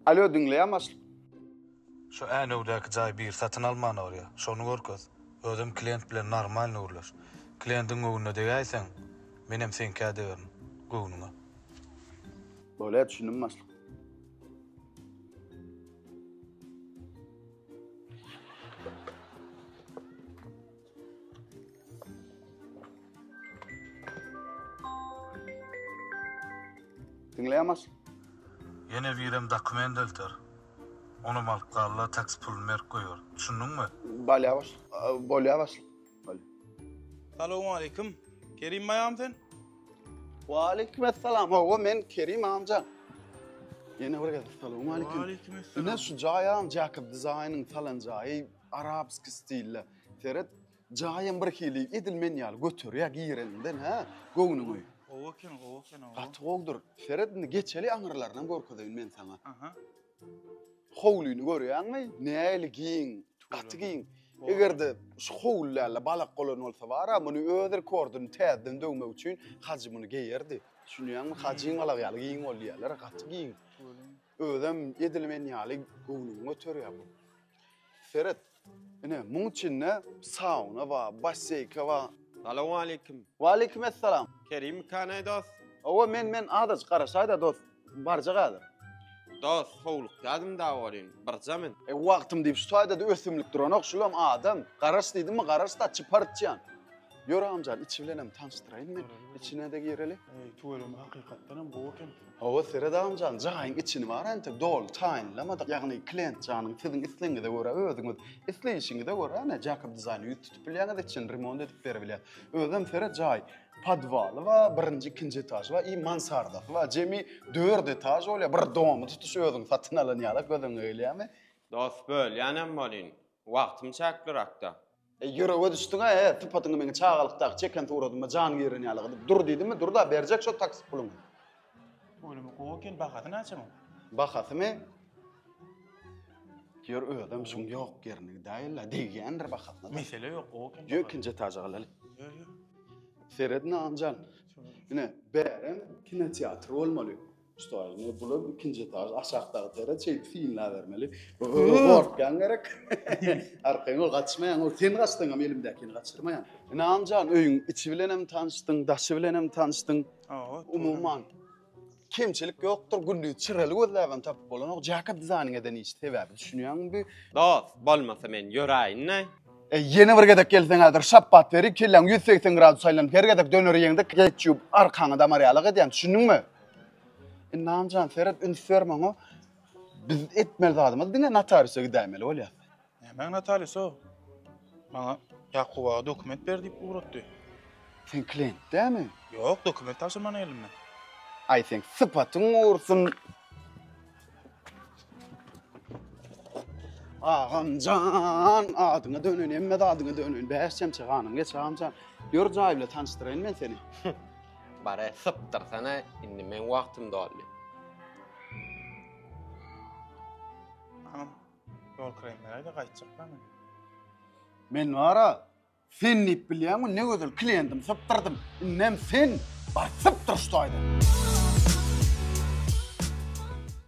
Alo diňleýän başlyk. Şu Änewdäki jaý biri satyn almana barýa, şony görkez. Özem klient bilen normalny gürleş. Kliendiň göwnüne degäýseň, menem seňkä degerin. Göwnüňe. Bolýa düşündim başlyk. Diňleýämaç. Ýene birem dokument elter. Onam alyp galla taksi puluny berip goýar. Düşündiňmi? Balýabaş. Bolýabaş. Salowmaleýkim. Kerim baýam sen? Waleýkimessalam. Hawa men Kerim amja. Ýene bir gezek salowmaleýkim. Waleýkimessalam. Ine şu jaýam Jakob Design-yň salan jaýy. Arabski stilde. Seret, jaýam bir hili edil men ýaly göterýär gireninden hä, göwnüňi. Gowy eken, gowy eken oba. Gaty gowudyr. Seret indi geçeli aňyrlarynam görkezeýin men saňa. Aha. Howlyny görýäňmi? Nähili giň, gaty giň. Eger-de şu howlylarda balak golan bolsa bar-a, muny öz rekordini täzeden döwmek üçin Hajy muny geýerdi. Düşünýäňmi? Hajyň balagy ýaly giň bol diýýärler, gaty giň. Özem edil men ýaly göwnüňi göterýär bu. Seret. Ine, muň içinde sauna bar, basseýka bar. Salowmaleýkim. Waleýkim essalam. Kerim kanaý dost? Hawa, men, men, azajyk garaşaý-da dost. Barjak häzir. Dost, howlukýadym da welin, birje men. E, wagtym diýip şu taýda-da ösümlik duranok, şulam adam. Garaş diýdimmi, garaş-da, çypar içýän. Ýör, agamjan, içi bilenem tanyşdyraýyn men. Içine-de gireli. Eý, tüweleme, hakykatdanam gowy eken. Hawa seret agamjan jaýyň içini bar entek doly taýynlamadyk ýagny klient janyň siziň islegiňize görä özüňiz isleýişiňize görä ene jakob dizaýna ýüz tutup bilýäňiz içini remont edip beribilýär özem seret jaý podwaly bar birinji ikinji etažy bar i mansardasy bar jemi dört etaž bolýar bir domy tutuş özüň satyn alan ýaly gözüňe gelýärmi. Dos bölýänem bolyn. Wagtym çäklirakda. E, ýürege düşdüň-ä, e, sypatyňy meň çagalykdaky çeken suratyma jan giren ýaly gylyp dur diýdimmi, dur-da, berjek şo taksi puluňy. Ölümi gowy eken, bahasy näçe muň? Bahasymy? Ýör, özem şuň ýok ýerini gidäýeli-le, degýändir bahasyna-da. Mesele ýok, gowy eken. Ýör, ikinji etaja galaly. Ýör, ýör. Seredin-ä, Anjan. Ine, bärem kinoteatr bolmaly. Что, indi bular ikinji etaž, aşakdaky tere çeýip synlabermeli. Gorkýan gerek. Arkaýyn ol gaçmaýan, ol sen gaçdyň hem elimdäkini gaçyrmaýan. Ynamjan, öýüň içi bilen hem tanyşdyň, daşy bilen hem tanyşdyň. Hawa. Umuman, kemçilik ýokdur, gülli çyrely gözläp hem tapyp bolanok. Jaka dizaýnyň eden işi sebäbi düşünýäňmi? Dost, bolmasa men ýöräýin-de. E, ýene bir gezek gelseň häzir şapbat beri kelläň 180 gradus aýlanyp her gezek döner ýeňde geç ýup arkaňy damarýalak edýän düşündiňmi? Inamjan e, seret üns berme oňa. Biz etmeli zadymyz diňe notariusa gidäýmeli bolýar. Nämäň notariusa? Maňa Ýakup aga dokument ber diýip ugratdy. Sen klient dämi? Ýok, dokument tabşyrmana geldim men. Aý sen sypatyň gursun. Agamjan, adyňa dönen, emme adyňa dönen. Bäş çemçe ganym geç agamjan. Ýör jaý bilen tanyşdyraýyn men seni. Bare sypdyrsana, indi men wagtym doldy. Agam, ýol kiraýym beräýde gaýtjakman men. Men wara, sen diýip bilýäňmi, ne gözel klientim sypdyrdym. Indem sen bar sypdyr şu taýdan.